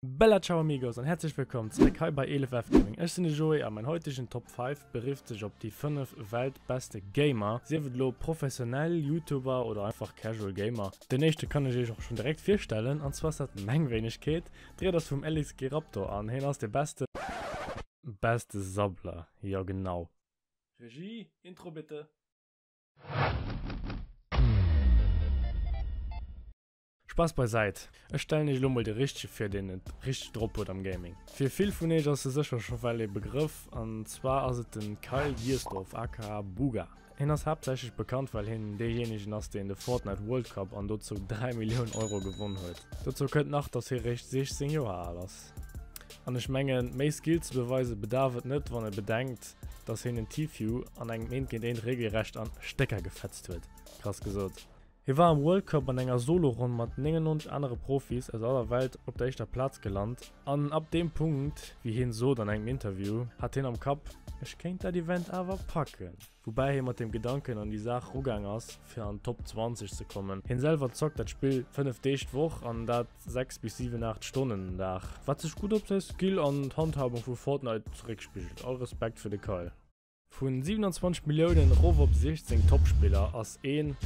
Bella ciao amigos an herzlich willkommen zréck hei bei 11F Gaming. Ech sinn de Joé a mein heutegen Top 5 berifft sech op déi 5 weltbeste Gamer, sief et elo professionell, Youtuber oder einfach Casual Gamer. Den éischte kann ech iech och schonn direkt virstellen, an zwar ass dat meng Wéinegkeet. D'Ried ass vum LXGRaptor an hien ass de beste, beste Sabbler, jo genau. Regie, Intro bitte. Spass bei Säit, ech stellen iech elo mol de richtege fir deen et richteg drop huet am Gaming. Fir vill vun iech ass e sécher scho well ee Begrëff, an zwar ass et den Kyle Giersdorf aka Bugha. Hien ass haaptsächlech bekannt well hien deejéinegen ass deen de Fortnite World Cup an dozou 3 Milliounen Euro gewonn huet. Dozou kënnt nach dass hie réischt 16 Joer al ass. An ech mengen méi Skill ze beweise bedarf et net wann e bedenkt dass hien en Tfue an engem eent géint eent regelrecht an Stécker gefetzt huet. Krass gesot. Hie war am World Cup an enger Soloronn mat 99 anere Profis aus aller Welt op der éischter Plaz gelant an ab deem Punkt, wéi hien sot an engem Interview, hat hien am Kapp, ech kéint dat Event awer packen. Woubäi hie mat dem Gedanken an déi Saach rugaang ass, fir an d'Top 20 ze kommen. Hien selwer zockt dat Spill 5 Deeg d'Woch an dat 6 bis 7, 8 Stonnen den Dag, wat sech gutt op säi Skill an d'Handhabung vu Fortnite réckspigelt. All Respekt fir de Kyle. Vun 27 Milliounen erof op 16 Topspiller ass een,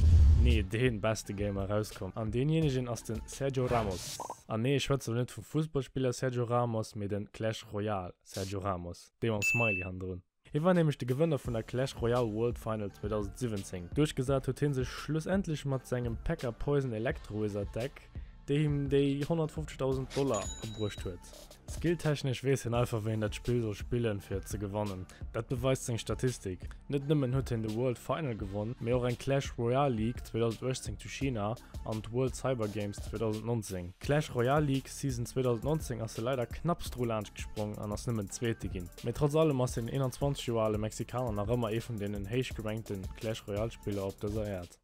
nee dee beste Gamer erauskomm an deenjeenegen ass den Sergio Ramos. An nee ech schwätzen elo net vum Fussballspiller Sergio Ramos, mee den Clash Royale Sergio Ramos, dee mam Smiley hannendrun. Hie war nämlech de Gewënner vun der Clash Royale World Final 2017. Duerchgesat huet hie sech schlussendlech mat sengem P.E.K.K.A. Poison Electro Wizard Deck, dee him déi 150.000 Dollar abruecht huet. Skilltechnesch weess hien einfach wéi een dat Spill soll spillen fir et ze gewannen. Dat beweist seng Statistik. Net nëmmen huet hien de World Final gewonn, mee och eng Clash Royale League 2018 zu China an d'World Cyber Games 2019. D'Clash Royale League Season 2019 ass e leider knapps dru laanscht gesprong an ass nëmmen Zweete ginn. Mee trotz allem ass den 21 Joer ale Mexikaner nach ëmmer ee vun deenen héichgeränkte Clash Royale Spiller op dëser Äerd.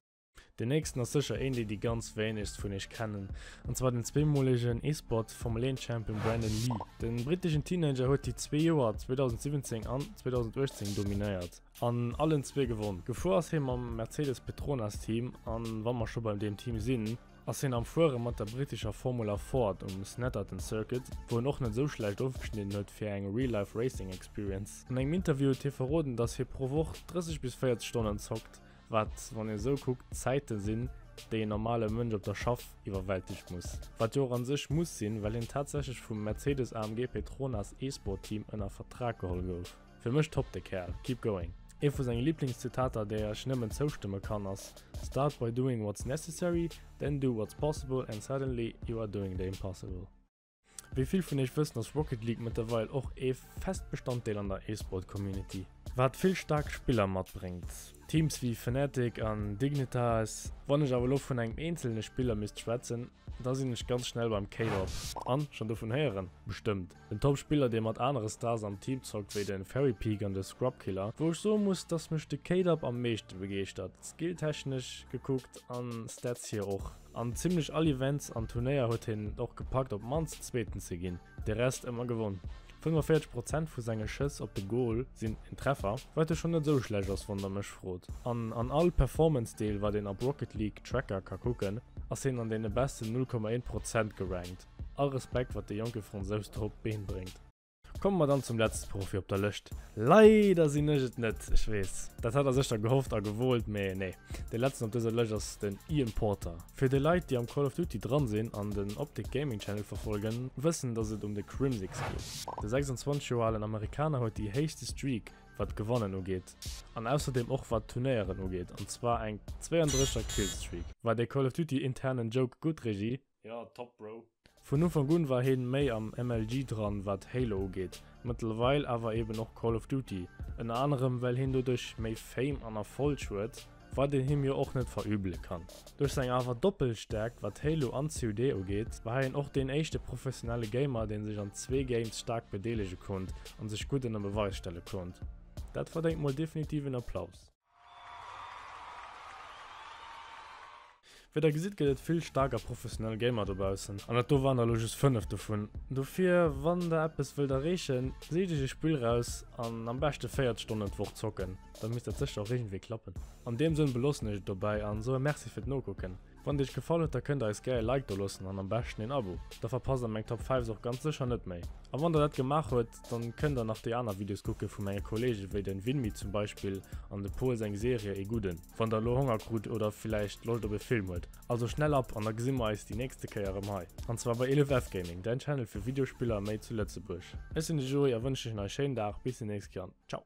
Den nächsten ass sécher een, deen déi ganz wéinegst vun iech kennen, an zwar den zweemolegen E-Sport Formel 1 Champion Brandon Lee. De britteschen Teenager huet déi zwee Joer 2017 an 2018 dominéiert an allen zwee gewonn. Gefuer ass hie mam Mercedes Petronas Team, an wa mer scho beim deem Team sinn, ass hien am Fuere mat der brittescher Formula Ford um Snetterton Circuit, wou en och net esou schlecht ofgeschnidden huet fir eng Real Life Racing Experience. An engem Interview huet hie verroden, datt hie pro Woch 30 bis 40 Stonnen zockt. Wat, wann een esou kuckt, Zäiten sinn, déi een normale Mënsch op der Schaff iwwerwältegt muss. Wat jo och a sech muss sinn, well hien tatsächlech vum Mercedes-AMG Petronas E-Sport Team ënner Vertrag geholl gouf. Fir mech top de Kerl, keep going! Eent vu senge Liblingszitater, där ech nëmmen zoustëmme kann, ass, Start by doing what's necessary, then do what's possible and suddenly you are doing the impossible. Wéi vill vun iech wëssen ass Rocket League mëttlerweil och ee fest Bestanddeel an der E-Sport Community, wat vill staark Spiller matbréngt, Teams wéi Fnatic an Dignitas. Wann ech awer elo vun engem eenzelne Spiller misst schwätzen, da sinn ech ganz schnell beim K-Rob, an, schonn dovun héieren? Bestëmmt den Top Spiller dee mat anere Stars am Team zockt wéi den Fairypeak an de Scrubkiller, wou ech soe muss dass mech de K-Dub am meeschte begeeschtert, Skill technesch gekuckt an Stats hier och. An zimlech all Events an Turnéier huet hien et och gepackt op d'mannst Zweeten ze ginn, de Rest ëmmer gewonn. 45 Prozent vu senge Schëss op de Goal sinn en Treffer, wat jo schonn net esou schlecht ass, wann der mech frot. An an all Performance-Deel, wat een ab Rocket League Tracker ka kucken, ass hien an deene besten 0,1 Prozent gerankt. All Respekt, wat de jonke Fransous do op d'Been bréngt. Komme mer dann zum letzte Profi op der Lëscht. Leider sinn ech et net, ech weess. Dat hat er sech da gehofft a gewollt, mee nee. De letzten op dëser Lëscht ass den Ian Porter. Fir déi Leit, déi am Call of Duty dran sinn an den Optic Gaming Channel verfolgen, wëssen, dass et ëm de Crimsix geet. De 26 Joer alen Amerikaner huet déi héichste Streak wat Gewannen ugeet, an ausserdeem och wat Turnéieren ugeet, an zwar eng 32er Killstreak. War dee Call of Duty internen Joke gutt Regie? Jo top bro. Vun Ufank un war heen méi am MLG dran wat Halo ugeet, mëttlerweil awer eben och Call of Duty, ënner anerem well heen doduerch méi Fame an Erfolg huet, wat een him jo och net verübele kann. Duerch seng awer doppelt Stärkt wat Halo an CUD ugeet, war heen och deen éischte professionelle Gamer deen sech an zwee Games staark bedeelege konnt an sech gutt ënner Beweis stelle konnt. Dat verdéngt mol definitiv een Applaus. Wéi der gesitt gëtt et vill staark a professionell Gamer dobaussen, an et do waren der elo just 5 dovun. Dofir wann der eppes wëllt erreechen, sicht iech e Spill raus an am beschte 40 Stonnen d'Woch zocken, da misst dat sécher och iergendwéi klappen. An deem Sënn belossen ech et dobäi an soe Merci fir d'Nokucken. Wann Iech gefall huet da kënnt der eis gär e Like do loossen an am beschten een Abo, da verpasst der meng Top 5s och ganz sécher net méi. A wann der dat gemaach huet, dann kënnt der nach déi aner Videos kucke vu menge Kollege wéi den Winmi zum Beispill an de Pol seng Serie E gudden. Wann der elo Honger krut oder villäicht Loscht op e Film huet, also schnell ab an da gesi mer eis déi nächste Kéier erëm hei. An zwar bei 11F Gaming, däin Channel fir Videospiller méi zu Lëtzebuerg. Ech sinn de Joe a wënschen Iech nach e schéinen Dag, bis déi nächst Kéier an ciao!